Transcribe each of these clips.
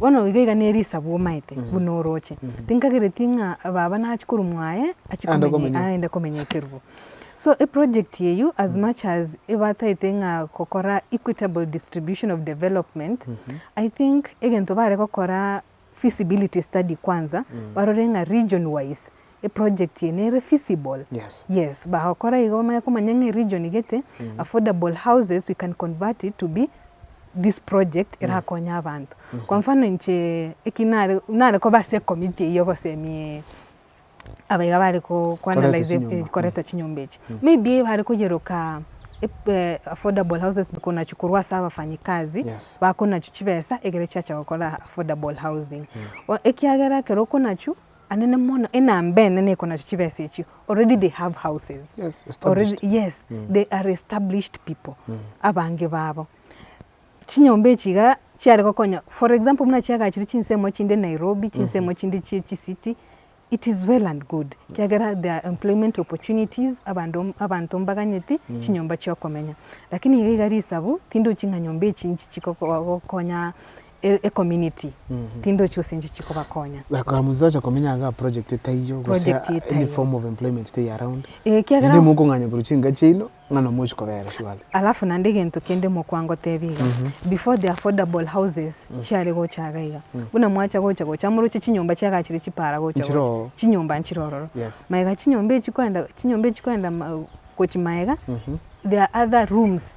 Bono iga iga ne Elisa bwomaete buna orooche. Tinkagereti ng'a baba nachie korwa mwaye achie komenya aende komenya ekerubo. So eproject eyio as much as ebataete ng'a gokora equitable distribution of development, I think egento bare gokora feasibility study kwanza, barore ng'a region wise eproject eye nere feasible, Yes. yes bagokora igo bamanye komanya ng'a eregion egete affordable houses we can convert it to be this project erakonye abanto. Kwa mfano inche eki nare nare koba ase ecommittee eyio gosemia abaiga bare ko- ko Korenta analyse chinyomba. eh, korenta chinyomba echi. Maybe bare koyeroka ep- eh, affordable houses bikoro nachio korwa ase abafanyikazi Yes. bakoro nachio chibesa egere chiacha gokora affordable housing. O- Ekiagera ekero okoro nachio anene mono enambene neko nacho chibesa echio already they have houses yes, already yes mm. they are established people mm. abange babo chinyomba echi iga chiare gokonya for example muna chiagachire chinsemo chinde nairobi chinsemo mm -hmm. chinde chie chisiti it is well and good yes. kiagera there are employment opportunities abanto abanto mbaganyeti mm. chinyomba chiokomenya lakini iga iga risabu tindi oching'a nyomba echi nchichi gokonya e community tindochi gose inche chikobakonya. Like Musa ocha komenya iga project etaiyo gose Project any etaiyo. form of employment tei around. Eh, ekiagera- Naende mokong'anya korwa chinka chiaino ng'ana mochi kobera surely. Alafu naende egento kende mokwa ngotebia iga, before the affordable houses chiare gocha iga iga, buna mwacha gocha gocha moroche chinyomba chiaga chire chipara gocha Nchire gocha, oo. chinyomba nchire ororo. Yes. Maega chinyomba echi koenda chinyomba echi koenda ma- gochi maega, there are other rooms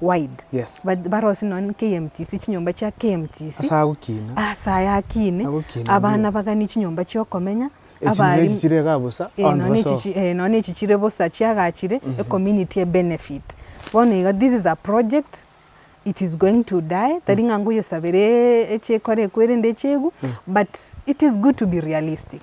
wide. Yes. Ba- Barosie nonya ne KMTC, chinyomba chia KMTC, Ase agokina. ase aya akine, Agokina abana ndiyo. baganie chinyomba chiokomenya, Echinyira abari- echi chire iga bosa, Eh, abanto nonya basoa. echi chi- eh, nonya echi chire bosa chiagachire, ecommunity ebenefit. Bono iga this is a project, it is going to die, tari ng'a ngoyesabera e- echiekora ekwo erende echiegwe, but it is good to be realistic.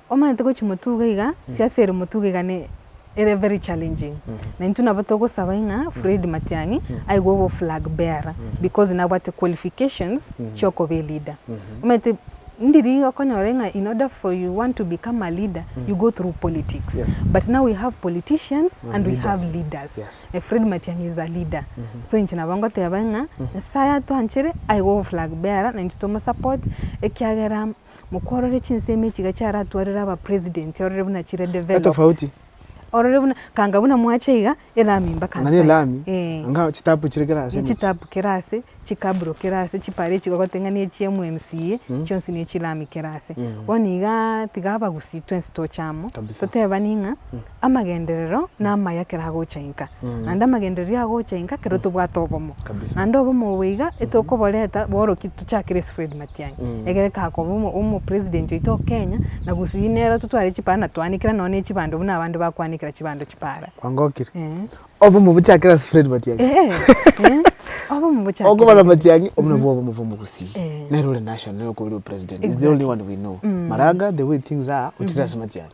Omanyete gochia motuga iga, siasa ere motuga iga ne ere very challenging. Na intwe nabo togosaba ing'a Fred Matiang'i aigwe obe oflag bearer because nabwate qualifications chiokoba eleader. Omanyete ndiri okonyora ing'a in order for you want to become a leader you go through politics. Yes. But now we have politicians and And we leaders. have leaders. Yes. Eh, Fred Matiang'i is a leader. So inche nabo ngoteba ing'a Nyasaye atwanchere aigwe obe oflag bearer na intwe tomosupport ekiagera Mokworore chinsemo echi iga chiaratwarire aba president orore buna chire developed. Etofauti. Orore buna kanga buna mwacha iga elami mpaka Ang'ani nsa. elami, Eh. anga chitapu chire kera ase emechie. Chitapu kere ase, chikabro kere ase, chipara echi bagote ng'a ne chia MMCA, chionsi ne chilami kere ase. Bono igaa tiga abagusii twensi toche amo, Kabisa. totebani ng'a amagenderero namaya ekero agocha inka, naende amagendererio agocha inka ekero tobwate obomo. Naende obomo obo iga etokoboreta bono ki tochakire ase Fred Matiang'i, ekere kakoba omo omo president oito o Kenya, na gusii nere totware chipara na twanekera nonye na echibando buna abande bakwanekera chibando chipara. Kwangokire. Eeh. Obomo bochakire ase Fred Matiang'i. Eeh, eeh, obomo bochakire. Okobara Matiang'i, obwo nabwo obomo bwa omogusii. Eeh. Nere ore national nere okobua ore o president. He's the only one we know. Maraga, the way things are, ochire ase Matiang'i.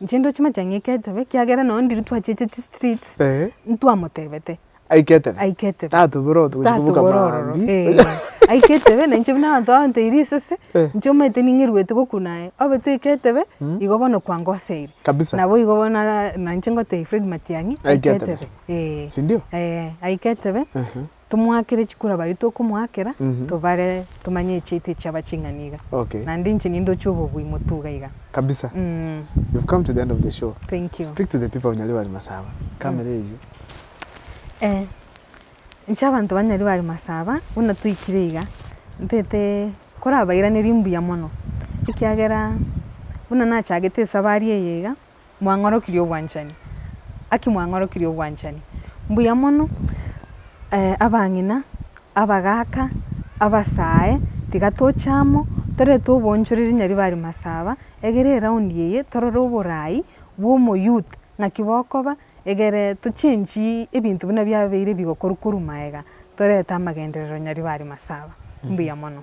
Inche ndoche mache ang'e eke etebe, ekiagera nonya ndiri twachieche chistreets, Eh. ntwamotebete Aike etebe. aike etebe. Tatobore oto gochia kobuka Tatobore ororo, mambia. eh. Aike etebe, na inche buna abanto bagoteire risese, Eh. inche omanyete ning'iruete gokuna aye. Obe toike etebe, igo bono kwangoseire. Kabisa. Nabo igo bono ara- na inche ngotebia Fred Matiang'i, Aike aike etebe. etebe. Eh. Sindio? Eh, aike etebe, Tomoakere chikura baria tokomoakera, tobare tomanye echiaito echiaba ching'ani iga. Okay. Naende inche ninde ochia obobui moto iga iga. Kabisa. You've come to the end of the show. Thank you. Speak to the people of Nyaribari Masaba. Camera eyio. Eh, inche abanto ba Nyaribari Masaba, buna toikire iga, ntete korabairanerie mbuya mono, ekiagera buna nachagete esabari eye iga, mwang'orokirie obwanchani? Naki mwang'orokirie obwanchani? Mbuya mono abang'ina, abagaaka, abasae, tiga toche amo torete oboonchoreri Nyaribari Masaba, egere eraundi eye torore oboraai bwa omoyouth naki bokoba, egere tochengi ebinto buna biabeire bigokorwa korwa maega torete amagenderero Nyaribari Masaba. Mbuya mono.